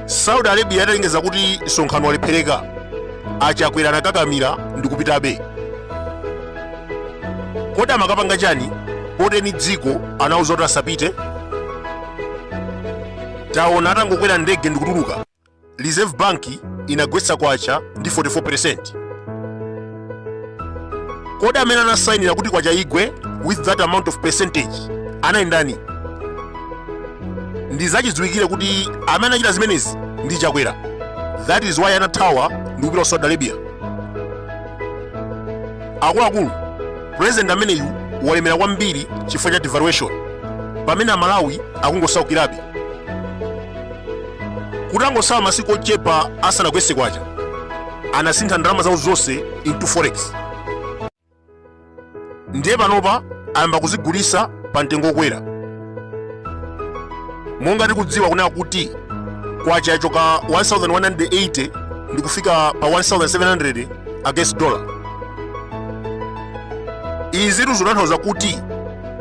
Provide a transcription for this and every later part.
saudi arabia italengeza kuti msonkhano walephereka achakwera anakakamira ndi kupitabe kodi amakapanga chani poti ndi dziko anauza kuti asapite taona atangokwera ndege ndikutuluka Reserve Bank inagwetsa kwacha ndi 44%. Kodi amene anasainira kuti kwacha igwe with that amount of percentage anali ndani? Ndi zachidziwikire kuti amene anachita zimenezi ndi Chakwera. That is why anathawa ndi kupita ku Saudi Arabia. Akuluakulu, president ameneyu walemera kwambiri chifukwa cha devaluation, pamene Amalawi akungosaukirabe. kutangotsala masiku ochepa asanagwetse kwacha anasintha ndalama zawo zonse into forex ndiye panopa ayamba kuzigulitsa pa mtengo wokwera monga tikudziwa kunena kuti kwacha yachoka 1180 ndi kufika pa 1700 against dollar izi zikutanthauza kuti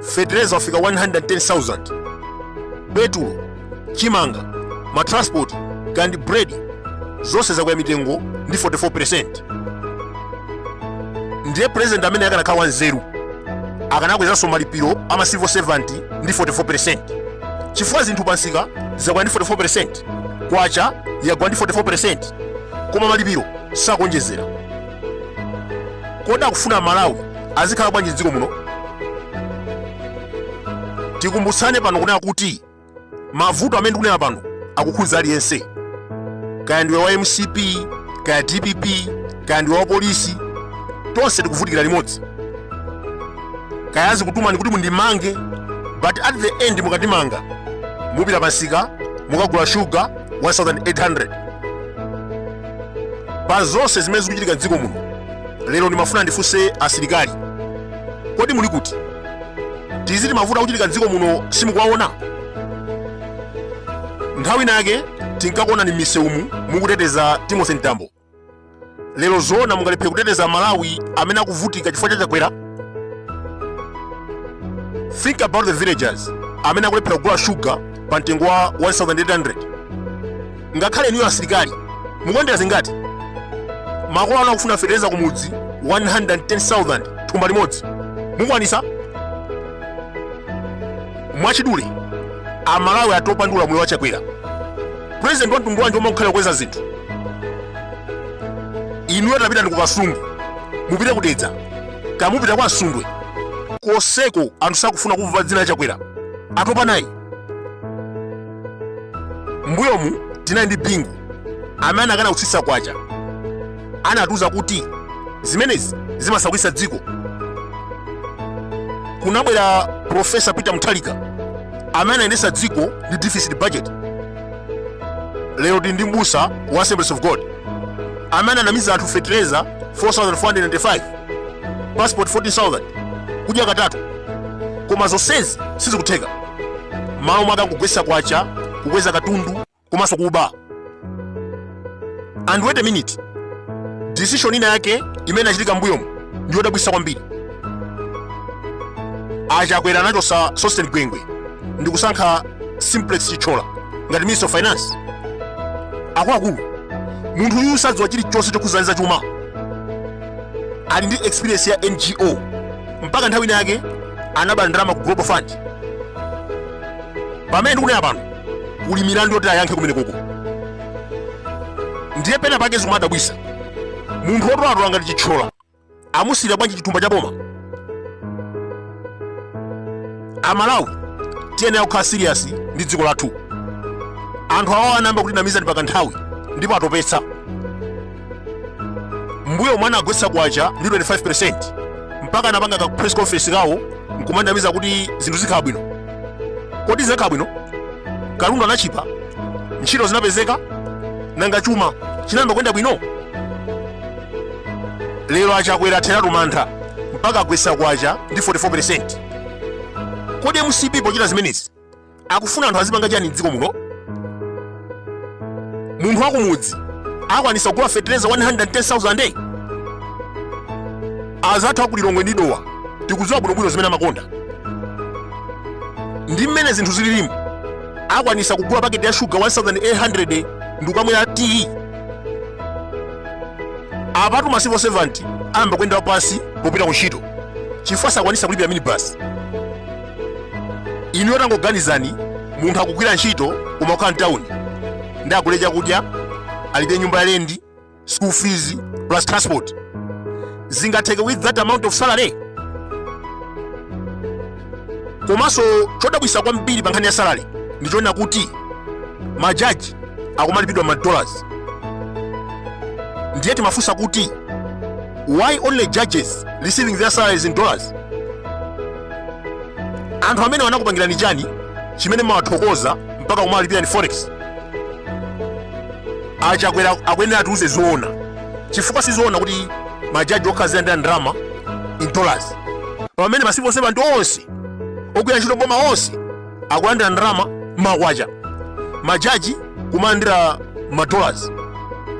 fetereza wafika 110,000 petulo chimanga matransport kandi bread zonse zakwera mitengo ndi 44% ndiye president amene akanakhala wanzeru akanakwezanso malipiro a ma civil servant ndi 44% chifukwa zinthu pamsika zakwera ndi 44% kwacha yagwa ndi 44% koma malipiro sakuonjezera kodi akufuna amalawi azikhala bwanji m'dziko muno tikumbutsane pano kunena kuti mavuto amene tikunena pano akukhudza aliyense kaya ndiwe wa mcp kaya dpp kaya ndiwe wa polisi tonse tikuvutikira limodzi kaya azikutumani kuti mundimange but at the end mukandimanga mupita pamsika mukagula shuga 1800 pa zonse zimene zikuchitika m'dziko muno lero ndimafuna ndifunse asilikali kodi muli kuti tiziti mavuto akuchitika m'dziko muno simukuwaona nthawi inayake tinkakuonani m'misewumu mukuteteza timothy mtambo lero zoona mungalephere kuteteza amalawi amene akuvutika chifukwa cha chakwera think about the villagers amene akulephera kugula shuga pa mtengo wa 1800 ngakhale inuyo asilikali mukondera zingati makolo anu akufuna fetereza kumudzi 110,000 thumba limodzi mukwanisa mwachidule amalawi atopa ndi ulamuliro wa chakwera president wa mtundu wanji omwe akukhala kukweza zinthu inuyo tapitani kukasungu mupite kudedza kaya mupita kwa msundwe koseko anthu sakufuna kumva dzina la chakwera atopa naye mbuyomu tinali ndi bingu amene anakana kutsitsa kwacha anatiuza kuti zimenezi zimasaukitsa dziko kunabwera profesa peter mutharika amene anayendetsa dziko ndi deficit budget lero tili ndi mbusa wa assemblies of god amene ananamiza anthu fetereza 4495 passport 14000 kudya katatu koma zonsezi sizikutheka malo mwake akugwesa kwacha kukweza katundu komanso kuba and wait a minute decision ina yake imene inachitika mbuyomu ndi yodabwisa kwambiri achakwera anachosa sosten gwengwe ndi kusankha simplex chithyola ngati minister of finance akuluakulu munthu uyu sadziwa chilichonse chokhuzana ndi zachuma ali ndi experience ya ngo mpaka nthawi ina yake anaba ndalama ku global fund pamene ndikunena pano kuli milandu yoti ayankhe kumeneko ndiye pena pake zikumadabwisa munthu wotolatola ngati chithyola amusiira bwanji chithumba cha boma amalawi tiyenera kukhala siriyasi ndi dziko lathu anthu awa anayamba kutinamiza ndi kwa kanthawi ndipo atopetsa mbuyomu anagwetsa kwacha ndi 25% mpaka anapanga ka press conference kawo nkumanamiza kuti zinthu zikhala bwino kodi zinakhala bwino katundu anatchipa ntchito zinapezeka nanga chuma chinayamba kuyenda bwino lero achakwera atheratu mantha mpaka agwetsa kwacha ndi 44% kodi mcp pochita zimenezi akufuna anthu azipanga chani mdziko muno munthu wakumudzi akwanisa kugula fetereza 110,000 day azathu akulilongwe ndi dowa tikudziwa bwinobwino zimene amakonda ndi mmene zinthu zililimu akwanisa kugula paketi ya shuga 1800 ndikukamwera tiyi apatu ma civil servant ayamba kuyenda pansi popita ku ntchito chifukwa sakwanisa kulipira minibasi inu yotangoganizani munthu akugwira ntchito kumakhala mtawuni ndiye agule chakudya alibe nyumba ya lendi school fees plus transport zingatheke with that amount of salary komanso chodabwitsa kwambiri pa nkhani ya salary ndichonena kuti majaji akumalipidwa ma dollars ndiye timafunsa kuti why only judges receiving their salaries in dollars anthu amenewa anakupangirani chani chimene mumawathokoza mpaka kumawalipira mu forex a Chakwera akuyenera atiuze zoona chifukwa sizoona kuti majaji okha azilandira ndrama in dollars pamene ma civil servant onse ogwira ntchito m'boma onse akulandira ndrama makwacha majaji kumalandira madollars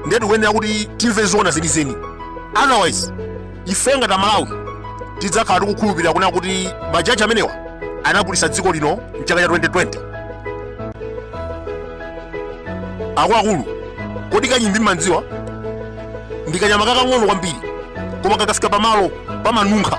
ndiye tikuyenera kuti timve zoona zenizeni otherwise ife ngati amalawi tidzakhala tikukhulupirira kunena kuti majaji amenewa anagulitsa dziko lino mchaka cha 2020 akuluakulu kodi kanyimbi mumamudziwa ndi kanyama kakang'ono kwambiri koma kakafika pamalo pamanunkha